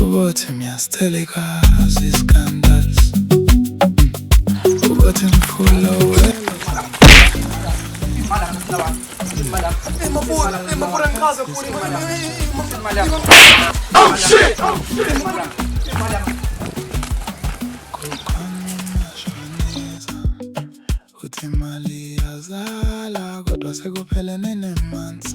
Ukuthi ngiyasitheleka ziskandals Ukuthi ngifuna wena Oh shit! Oh shit! Uthi imali yazala kodwa sekuphelene nemanzi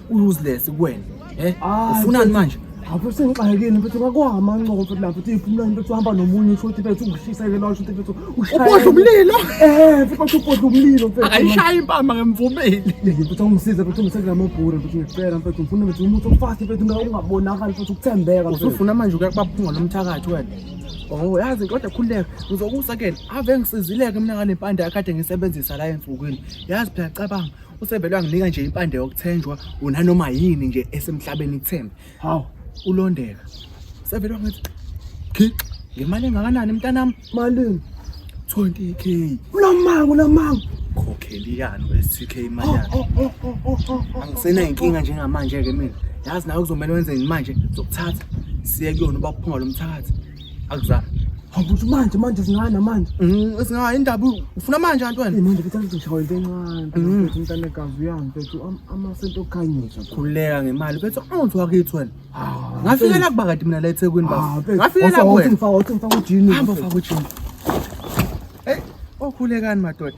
useless kuwena eh ufunani manje Hafu sengixakile mfethu ngakwama ncobo futhi lapho uthi ifuna into uhamba nomunye usho ukuthi mfethu ungishisele lo usho ukuthi mfethu ushaya. Ubodla umlilo. Eh mfethu ubodla umlilo mfethu. Akayishaya impama ngimvumile. Yeke mfethu ungisize mfethu ngiseke lamabhura mfethu ngicela mfethu ngifuna mfethu umuntu ofast mfethu ngingabonakali mfethu ukuthembeka. Usufuna manje ukuyakubaphunga lomthakathi wena. Oh yazi kodwa khululeka ngizokusekela ave ngisizileke mina nganempande yakade ngisebenzisa la ensukwini yazi phela cabanga usevele wanginika nje impande yokuthenjwa unanoma yini nje esemhlabeni kuthembe hawu ulondeka sevele wangithi gixa ngemali engakanani mntanami malini 20k ulamanga ulamanga khokheli yani we-6k imali yakhe oh, oh, oh, angisenayinkinga njengamanje-ke mina yazi nawe kuzomele wenze yini manje zokuthatha siye kuyona uba kuphunga lo mthakathi Akuzange. Habuthi manje manje singana manje. Mhm, singaya indaba ufuna manje antu wena. Manje ngithanda ukudishawa into encane. Mm. Ukuthi umntana kazi uyangi mfethu amasento okhanyisa. Khuleka ngemali mfethu awuthi wakithi wena. Ah, Ngafikela kuba kade mina la eThekwini baba. Ah, Ngafikela kuwena. Ngifaka uthi ngifaka ujini. Hamba ufaka ujini. Hey, okhulekani madoda.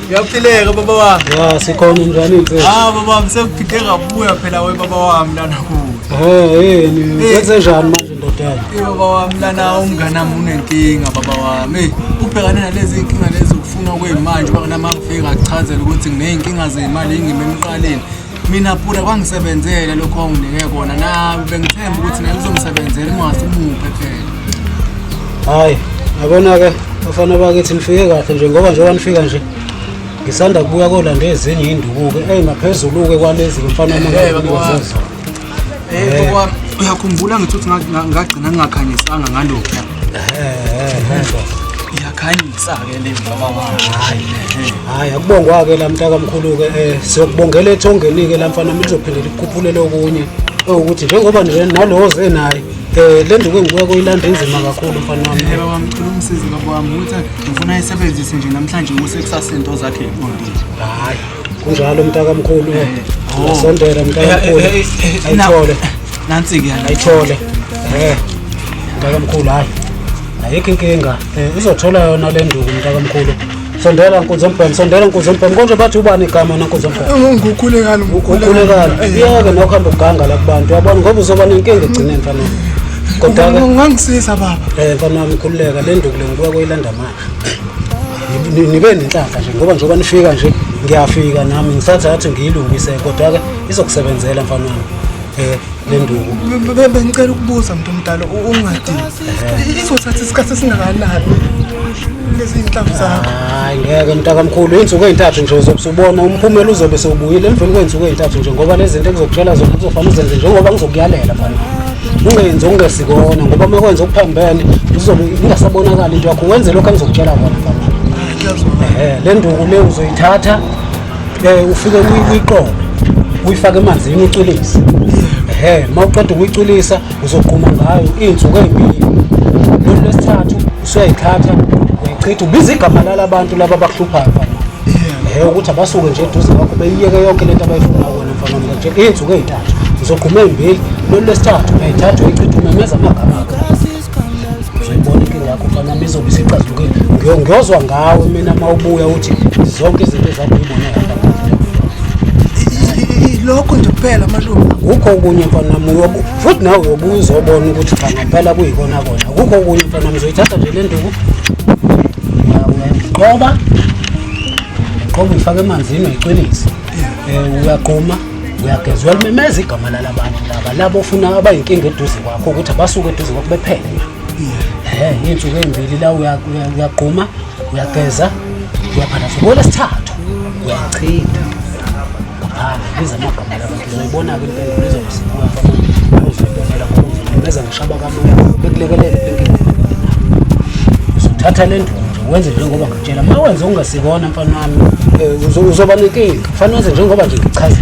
Uyaphileka baba wami. Ya sikhona njani mfethu? Ah baba wami sekuphinde ngabuya phela we baba wami lana kuwe. Eh yini eh. wenze njani manje ndoda yami? Eh baba wami lana umngane wami unenkinga baba wami. Eh, ubhekane nalezi inkinga lezi ukufuna kwemanje bakunamafika achazela ukuthi ngineyinkinga zemali engime emqaleni. mina pura kwangisebenzela lokho onginike kona nawe bengithemba ukuthi naye kuzongisebenzela ungase umuphe phela hayi yabona-ke bafana bakithi nifike kahle nje ngoba njengoba nifika nje ngisanda kubuya kolanda ezinye iy'nduku-ke eyi ngaphezulu-ke kwalezi-ke mfana Hey, baba. Eh, ngoba uyakhumbula ngithi uthi nga- nga- ngagcina ngingakhanyisanga ngalokhu iyakhanyisa-ke le mama wakhe hayi akubongwa-ke la mntakamkhulu-ke um siyokubongela ethongeni-ke la mfana mina lizophinde likukhuphulele okunye ewukuthi njengoba nje nalowo ze naye um le nduku engibuya kuyilanda inzima kakhulu mfana wami Eh, baba mkhulu umsizi baba wami ukuthi ngifuna ayisebenzise nje namhlanje kuse kusasa into zakhe eqondile hayi kunjalo mntakamkhulu oh. sondela mntakamkhulu eh, eh, eh, ayithole nansi-ke ayithole um mntakamkhulu hhayi ayikho inkinga um izothola yona le nduku mntakamkhulu sondela nkunzi embhemu sondela nkunzi embhemu konje bathi ubani igama wena nkunzi embhemu ngukhulekani ngukhulekani iyeke nokuhamba ukuganga la kubantu yabona ngoba uzoba nenkinga egcineni fanele kodwa ngangisiza baba um fanele ngikhululeka le nduku le ngibuya kuyilanda manje nibe nenhlanhla nje ngoba njengoba nifika nje ngiyafika nami ngisatha athi ngiyilungise kodwa-ke izokusebenzela mfanami um lenduku bengicela ukubuza mntu omdala ungadini izothatha isikhathi esingakanani lezi inhlamvu zakho hayi ngeke mntakamkhulu iy'nsuku ey'ntathu nje uzobe usubona umphumela uzobe sewubuyile emveni kwey'nsuku ey'ntathu nje ngoba lezi zinto engizokutshela zona kuzofanele uzenze njengoba ngizokuyalela mfana ungenzi okungesikona ngoba uma kwenza okuphambene uzobe ingasabonakali into yakho wenze lokho engizokutshela kona um le nduku le uzoyithatha um ufike uyiqobe uyifake emanzini ucwilise um uma uqeda ukuyicwilisa uzogquma ngayo iy'nsuku ey'mbili lolu lwesithathu usuyayithatha uyayichitha ubiza igama lalabantu laba abakuhluphayo ngeke ukuthi abasuke nje eduze kwakho beyiyeke yonke lento abayifuna kona mfana mina nje iy'nsuku ey'ntathu ngizogquma ey'mbili lolu lwesithathu ngayithathu eyichitha umemeza amagama akho uzoyibona inkinga yakho mfana mi izobe isixazulukile Ngiyo- ngiyozwa ngawe mina uma ubuya uthi zonke izinto ezakho uyibone lokho nje kuphela malume kukho okunye mfana wami uyobu- futhi nawe uyobuya uzobona ukuthi cha ngempela kuyikona kona kukho okunye mfana wami uzoyithatha nje le nduku uyaqoba qoba uyifaka emanzini uyiqinise um uyaqoma uyageza uyalimemeza igama lala bantu laba labo ofuna abayinkinga eduze kwakho ukuthi abasuke eduze kwakho bephele um iy'nsuku ey'mbili la uyaquma uyageza uyaphanasa ngolesithathu uyachitha Ah, biza amagama labantu ngizoyibona-ke impendulo izomsibuka bayozidolela ngokuvulela beza ngishaba kamoya bekulekelele impendulo uzothatha le ndlu nje wenze njengoba ngitshela uma wenze ungasikona mfana wami eh, uzo- uzoba nenkinga kufanele wenze njengoba nje ngichaza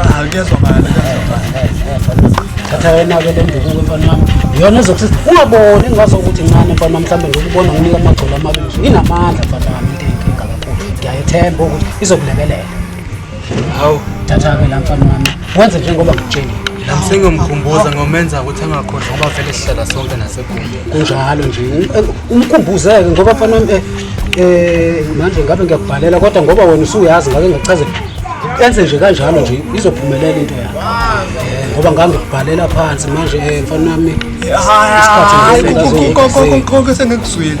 Ah, kuyezwakala kuyezwakala thatha yena-ke le ndukuke mfana wami yona ezokusiza ungaboni ngaso ukuthi ncane mfana wami mhlawumbe ngokubona nginika amagcolo amabili inamandla mfana wami into eyinkinga kakhulu ngiyayethemba ukuthi izokulekelela Hawu, thatha-ke la mfana wami. Wenze njengoba ngikutshela. Sengiyomkhumbuza ngomenza ukuthi angakhohlwa ngoba vele sihlala sonke nasekhona. Kunjalo nje. Umkhumbuzeke ngoba mfana wami eh, eh manje ngabe ngiyakubhalela kodwa ngoba wena usuyazi ngake ngakuchazela. Enze nje kanjalo nje izophumelela into yakho. Eh, Ngoba ngangikubhalela phansi manje eh mfana wami. Hayi, isikhathi ngeke konke sengikuzwile.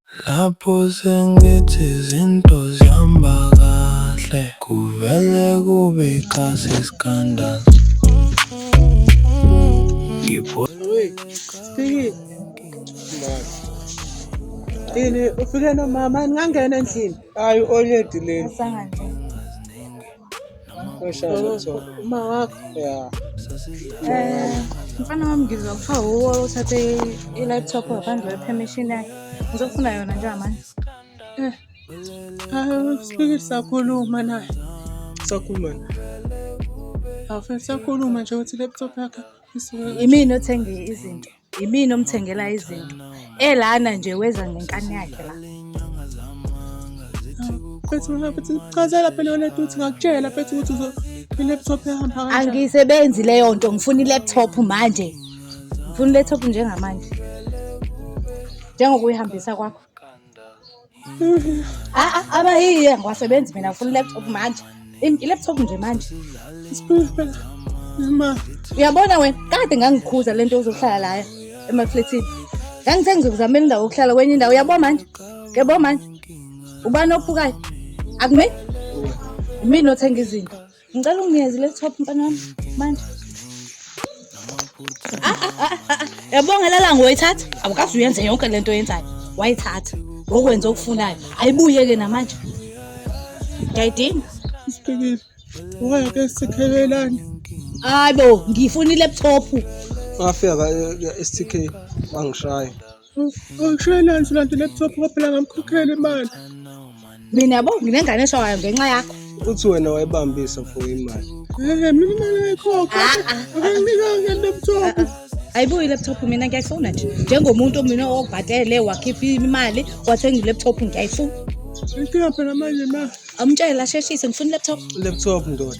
Lapho sengithi izinto zihamba kahle kuvele kube ikhasi iskandalo Yini ufike nomama ngangena endlini? Hayi oledi leli. Asangangena. uma wakho ya um mfana wami ngizwa kuthiwa wuwe othathe i-laptop ngaphandle kwe-permission yakhe ngizofuna yona njengamanje eh, um sibike sakhuluma naye sakhuluma awufeni sakhuluma nje ukuthi i-laptop yakhe isuke imini othenge izinto yimina omthengela izinto elana nje weza ngenkani yakhe la Phethu mina phethu chazela phela yona duthi ngakutshela phethu ukuthi uzo i-laptop ehamba kanjani. angisebenzi leyo nto ngifuna i-laptop manje ngifuna i-laptop njengamanje njengokuyihambisa kwakho Ah, ah, abayiye ngiwasebenzi mina ngifuna i-laptop manje Im- i-laptop nje manje uyabona wena kade ngangikhuza le nto uzohlala laya emaflethini ngangithe ngizokuzamela indawo yokuhlala kwenye indawo uyabo manje uyabo manje ubani ophukayo akumini imini othenga izinto Ngicela unginikeze le top mfana wami manje. Ah, ah, ah, ah, ah. Yabonga lala ngoyithatha. Awukazi uyenze yonke lento oyenzayo. Wayithatha. Ngokwenza okufunayo. Ayibuyeke namanje. Ngiyayidinga. Sibhekile. Waya ke sikhelelana. Hayi bo, ngifuna i-laptop. Wafika ka- e- e- esithikeni wangishaya. Angishayelani nje lento laptop ngoba phela ngamkhokhela imali. Mina yabo nginengane eshawayo ngenxa yakho. Uthi wena wayibambisa for imali. Eh mina imali ayikhokha. Ah, ah. Akanginika nge laptop. Ah, Ayibuyi i-laptop mina ngiyayifuna nje njengomuntu mina obhatele wakhipha imali wathenga i-laptop ngiyayifuna Inkinga phela manje ma amtshele asheshise ngifuna i-laptop laptop ndoda.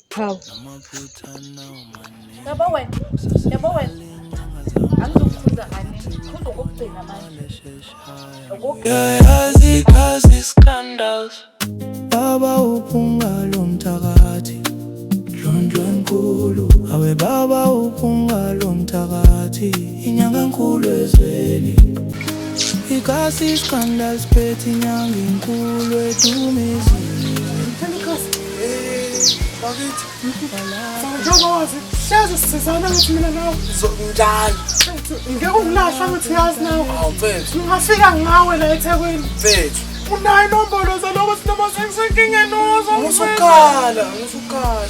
Hawu. Yabo wena. Yabo wena. Angizokukhuza kanye. Khuza okokugcina manje. Yayazi kazi scandals. Baba uphunga lo mthakathi. Ndlondlo enkulu. Awe baba uphunga lo mthakathi. Inyanga enkulu ezweni. Ikasi scandals phethi inyanga enkulu edumezweni. bakithi njengozi hleze sizana ukuthi mina nawe njalo ngeke ukulahla ukuthi yazi nawe ngingafika ngawe la ethekwini unayo inombolo zaloko sinoma sengisenkingeni uzo musukhala musukhala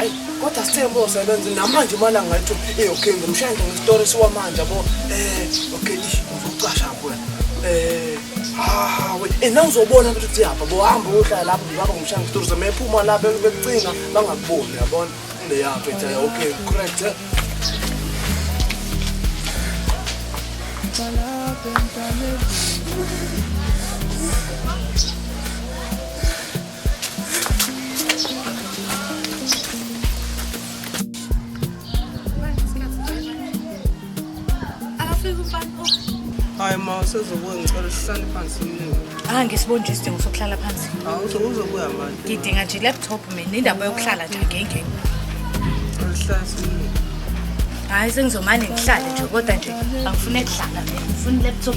Ayi kodwa sithembe usebenza namanje imali angayithi eh okay ngimshaya nje ngestory siwamanje yabo. Eh okay ish uzokucasha kuwe. Eh ah we eh nawuzobona ukuthi siyapha bo hamba uyohlala lapho ngibaba ngimshaya ngestory zemephuma la bekucinga bangakuboni yabona. Le yapha ethi okay correct. Eh? Thank you. hayi ma usezobuya ngicela sihlale phansi mningi ah ngisibonje isidingo sokuhlala phansi hawu uzobuya manje ngidinga nje i-laptop mina indaba yokuhlala nje ngengeni alihlasi mningi hayi sengizomane ngihlale nje kodwa nje angifune kuhlala ngifuna i-laptop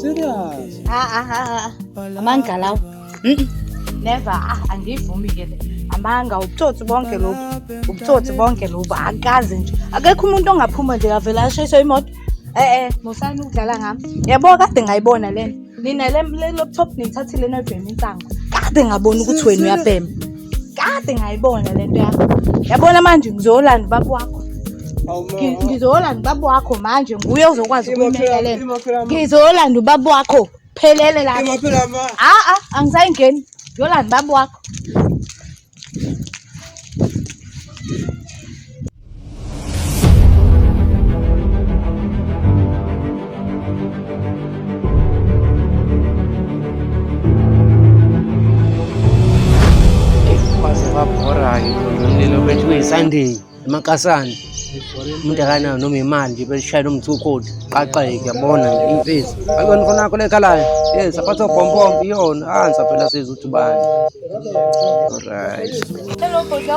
Serious? Ah, ah, ah, ah. Amanga lawo. Mm. Never. Ah, angivumi ke le. Amanga ubutsotsi bonke lobu. Ubutsotsi bonke lobu. Akaze nje. Akekho umuntu ongaphuma nje avela ashayiswe imoto. Eh eh, musani ukudlala ngami. Yabo kade ngayibona lena. Nina le laptop nithathile noyibhema insango. Kade ngabona ukuthi wena uyabhema. kade ngayibona le nto yakho yabona manje ngizolanda ubaba wakho ngizolanda ubaba wakho manje nguye ozokwazi ukumekelela ngizolanda ubaba wakho phelele la a-a angisayingeni ngiyolanda ubaba wakho Sunday emakasana umuntu akanayo noma imali nje belishayela umthukoti qaqeke yabona imfezi ayona mfana yakho lekhalayo yes aphatha obhompompo iyona ansa ah, phela sizwe ukuthi bani alright hello bhodla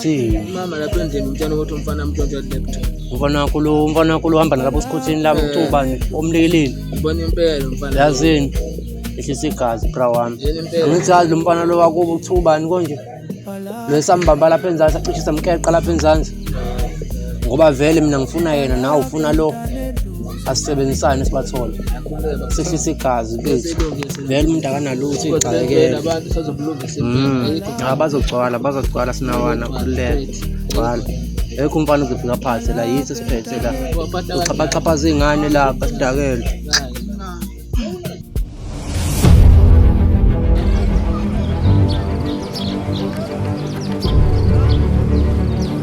See. Mama lapha endlini umtshana ukuthi umfana amtshontsha laptop. Umfana wakho lo umfana wakho lo uhamba nalapha osikhotheni labo Eh. uba nje omlekeleli. Ubona impela umfana. Yazini. Ehlisa igazi bra wami. Yena impela. Angithi yazi lo mfana lo wakubo kuthiwa ubani konje. Lo esambamba lapha enzansi acishe samkeqa lapha enzansi. Ngoba vele mina ngifuna yena nawe ufuna lo. Asisebenzisane sibathole. Akhululeke baba. Sehlisa igazi mfethu. Sesilungise. Vele umuntu akanalutho Kodwa vele igxakekele. abantu sazokulungisa. Mm. Ah, bazogcwala bazogcwala sinawana khululeka gcwala ekho umfana uzofika phansi la yithi siphethe la uxhaphaxhaphaza iy'ngane lapha sidakelwe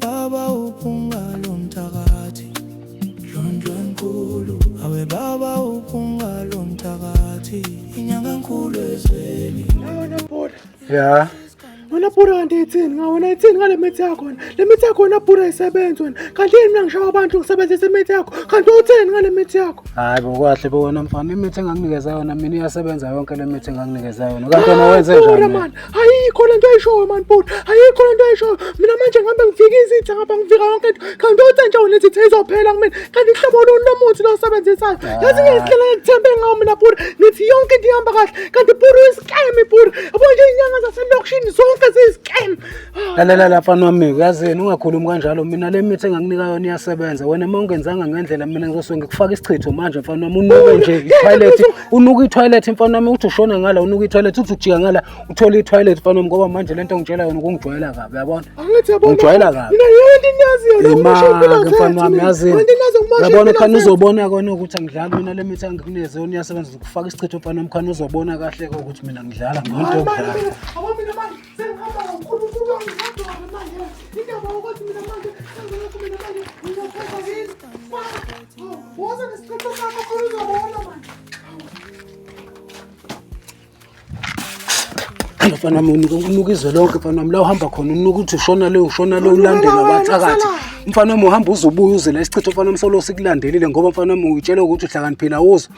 Baba uphungalo mthakathi Ndlondlo enkulu Awe baba uphungalo mthakathi Inyanga enkulu ezweni Awona boda Yeah wena bhura kanti ithini nga wena ithini ngale mithi yakho wena le mithi yakho wena bhura isebenzi wena kanti yini mina ngishawa abantu ngisebenzisa imithi yakho kanti uthini ngale mithi yakho hayi bokahle bo wena mfana imithi enganginikeza yona mina iyasebenza yonke le mithi enganginikeza yona kanti wena wenze njani ayikho le nto ayishoyo mani bhuti ayikho le nto ayishoyo mina manje ngihambe ngifike izitha ngapha ngifika yonke nto kanti othe nje wena izitha izophela kumina kanti uhlobo luni lomuthi lo osebenzisayo yazi ngiyazihlela ngikuthembe ngawo mina bhuti ngithi yonke into ihamba kahle kanti bhuti uyisikemi bhuti yabo nje iy'nyanga zaselokishini zonke ziyisikemi lalela lapha nwami uyazini ungakhulumi kanjalo mina le mithi enganginika yona iyasebenza wena uma ungenzanga ngendlela mina ngizosuke ngikufaka isichitho manje mfana wami unuke nje iphayilethi unuka ithoyilethi mfana wami uthi ushona ngala unuka ithoyilethi uthi ujika ngala uthole ithoyilethi mfana wami ngoba manje lento ngitshela yona ukungijwayela kabi uyabona ngijwayela kabi imake mfana wami yazini uyabona khani uzobona kona ukuthi angidlali mina le mithi angikuneze yona iyasebenza ukufaka isichitho mfana wami khani uzobona kahle ke ukuthi mina ngidlala ngiyinto yokudlala Thank you. Woza nesichitho sakho khona uzobona manje. Ayo mfana wami unuka unuka izwe lonke mfana wami la uhamba khona unuka uthi ushona le ushona le ulandela wathakathi. Mfana wami uhamba uzobuya uze la isichitho mfana wami solo sikulandelile ngoba mfana wami uyitshela ukuthi uhlakaniphile awuzwa.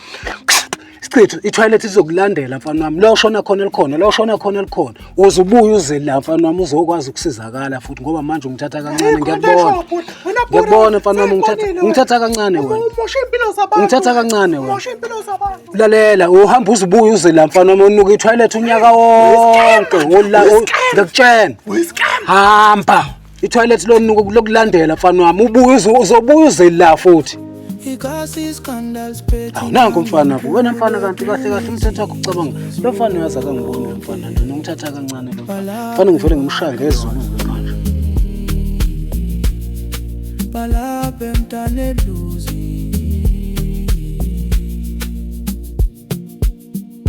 Sichithu ithoyilethi izokulandela mfana wami. Lo shona khona elikhona, lo shona khona elikhona. Uze ubuye uze la mfana wami uzokwazi ukusizakala futhi ngoba manje ungithatha kancane ngiyakubona. Ngiyakubona mfana wami ungithatha ungithatha kancane wena. Umosha impilo zabantu. Ungithatha kancane wena. Umosha impilo zabantu. Lalela uhamba uze ubuye uze la mfana wami unuka ithoyilethi unyaka wonke. Ngiyakutshena. Hamba. ithoyilethi lonuku lokulandela mfana wami ubuye uzobuya uzela futhi awunanko mfana bo wena mfana kanti kahle kahle umthetho wakho ucabanga lo mfana uyazi akangiboni lo mfana lona ungithatha kancane lo mfana ngivele ngimshaya ngezulu manje balapha emntaneluzi